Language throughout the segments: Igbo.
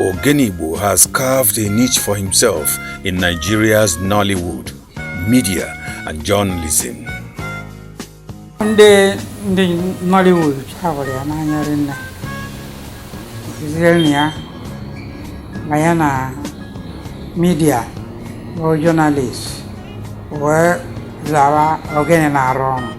Ogene Igbo has carved a niche for himself in Nigeria's Nollywood, media and journalism. ndị ndị Nollywood chawara ya n'anya rinne kụziere ya ma ya na media bụ journalist wee zawa Ogene na-arụ ọrụ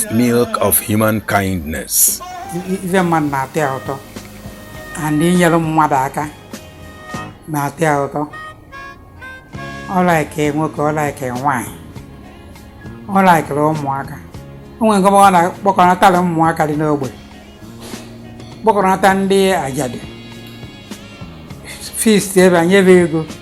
milk of human kindness. ife mmadụ na-atọ ya ụtọ and inyere mmadụ aka na-atọ ya ụtọ ọ likere nwoke ọ likere nwaanyị ọ likere ụmụaka o nwere nke ọ na-akpọkọnatara ụmụaka dị n'ogbe kpọkọnata ndị ajadu feast ebe a nyebe ego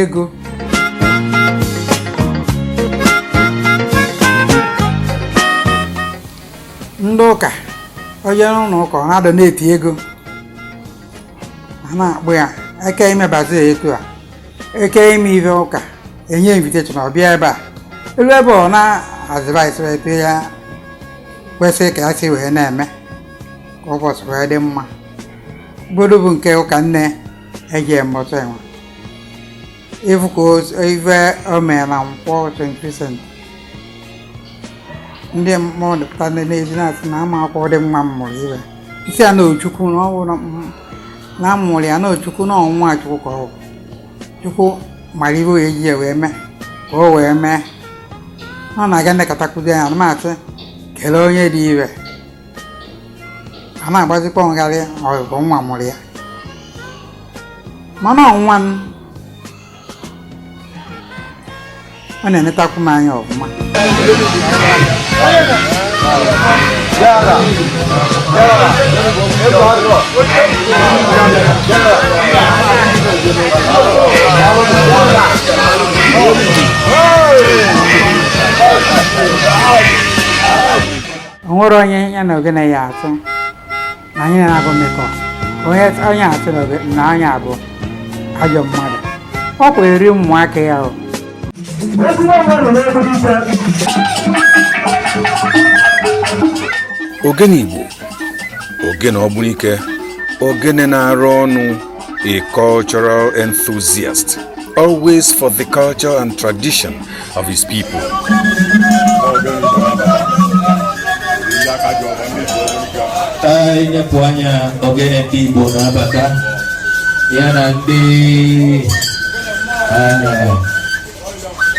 ego ndị ụka o jee n'ụlọ ụka ọ na-adonate ego a na-akpọ ya eke ime bazaar etu a eke ime ife ụka enye invitation ọ bịa ebe a elu ebe ọ na-advice wee pịa ya kwesịrị ka ya si wee na-eme ka ụbọchị wee dị mma godo bụ nke ụka nne eji mgbọta enwe ịfụ ka o- ife o mere na nkwọ St. Vincent ndị mmadụ pụta ndị na-eji na-asị na ama akwụkwọ dị mma mụrụ wee sị ya na ọ Chukwu na ọ bụ na m- na a mụrụ ya na ọ Chukwu na ọ nwa Chukwu ka ọ bụ Chukwu mara ife o ji ya wee mee ka o wee mee ọ na-aga nlekọtakwuzi anya na maasị kelee onye dị ire a na-agbazikwa ngharị ọ bụghị mụwa mụrụ ya mana ọ nwa m ọ na-enetakwu m anya ọfụma Hey! o nwerọ onye ya na Ogene ya atụ na anyị na-abụ mmekọ onye onye atụ na oge- na anyị abụ ajọ mmadụ ọ kwa eri ụmụaka ya o Ogene Igbo Ogene Ogbunike Ogene na-arụ ọnụ A cultural enthusiast, always for the culture and tradition of his people. I nepụ anya Ogene Igbo na-abata ya na ndị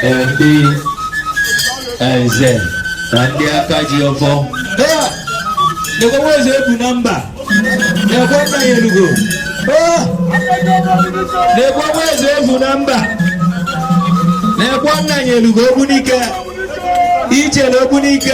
ndị nze na ndị aka ji ọfọ nekwekwezi ebu na mba nekwe nna ya elugo nekwekwezi ebu na mba nekwe nna ya elugo ogbunike ichere ogbunike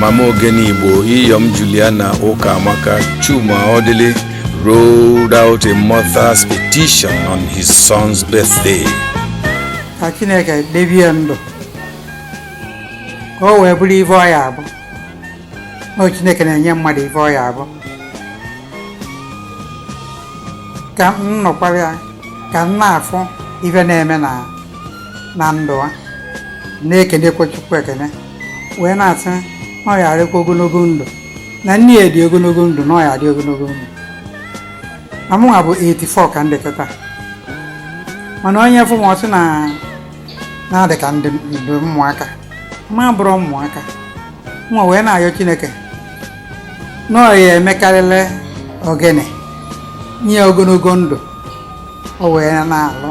mama ogene igbo iyom juliana ụkamaka chuma ọdịlị rolled out a mother's petition on his son's birthday ka chineke debe ya ndụ ka o wee bụrụ ife ọ ya abụ na chineke na-enye mmadụ ife ọ ya abụ ka m nọkwara ya ka m na-afụ ife na-eme na ndụ a na-ekenekwa chukwu ekene wee na-asị na ọ ya adịkwa ogologo ndụ na nne ya dị ogologo ndụ na ọ ya adị ogologo ndụ na mụnwa bụ 84 ka m dị kịta mana onye fụ m ọ sị na na-adị ka ndị ndị ụmụaka ma bụrụ ụmụaka nwa wee na-ayọ chineke na ọ ya emekarịrị ogene nye ya ogologo ndụ o wee na-alụ